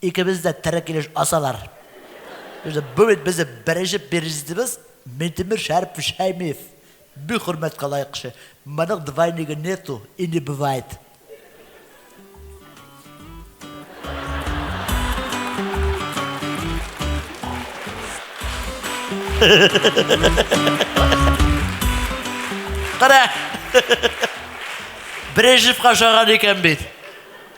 Икебез дә тере килеш асалар. Бу бит безнең беренче перзитыбыз Минтимер Шәрипов Шәймиев. Бик хөрмәткә лаек кеше. Моның двойнигы нету и не бывает. Кара! Брежневка ошаган икән бит.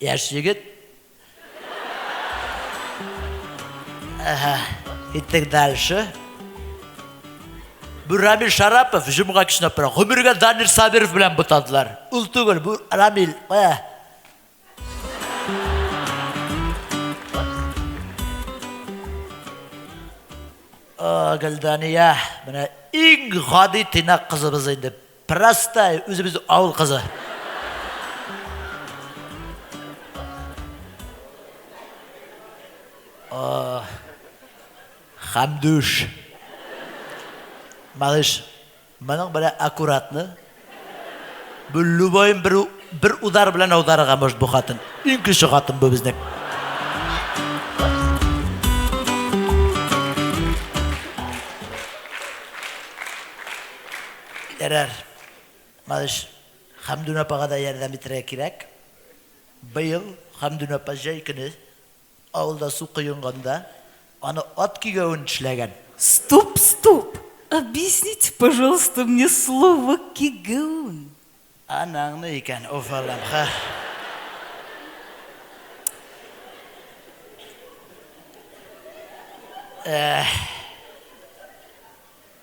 Яшь егет. Әһә, киттек дальше. Бу Рамил Шарапов, җомга кичен апра. Гомергә Данир Сабиров белән бутадылар. Ул түгел, бу Рамил. Ә. Гөлдания, менә иң гади тыйнак кызыбыз инде. Простая, үзебез авыл кызы. О, Хамдуш. Малыш, моның белән аккуратны. Бу любойым бер, бер удар белән аударырга может бу хатын. Иң көчле хатын бу безнең. Ярар, малыш, Хәмдүн апага да ярдәм итәргә кирәк. Быел Хәмдүн апа җәй көне авылда су коенганда, аны ат кигәвен эшләгән. Стоп, стоп! Объясните, пожалуйста, мне слово кигәвен. Анаңны икән, уф Аллам, ха! Эх!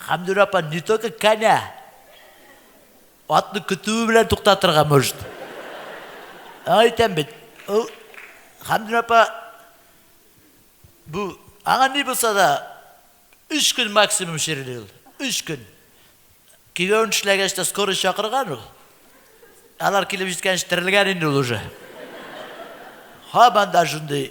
Хәмдүрә апа не только коня, атны көтүе белән туктатырга может. Аңа әйтәм бит, ул Хәмдүрә апа бу аңа ни булса да өч көн максимум чирли ул. Өч көн. Кияүен эшләгәч тә скорый чакырган ул. Алар килеп җиткәнче терелгән инде ул уже. Һаман да шундый.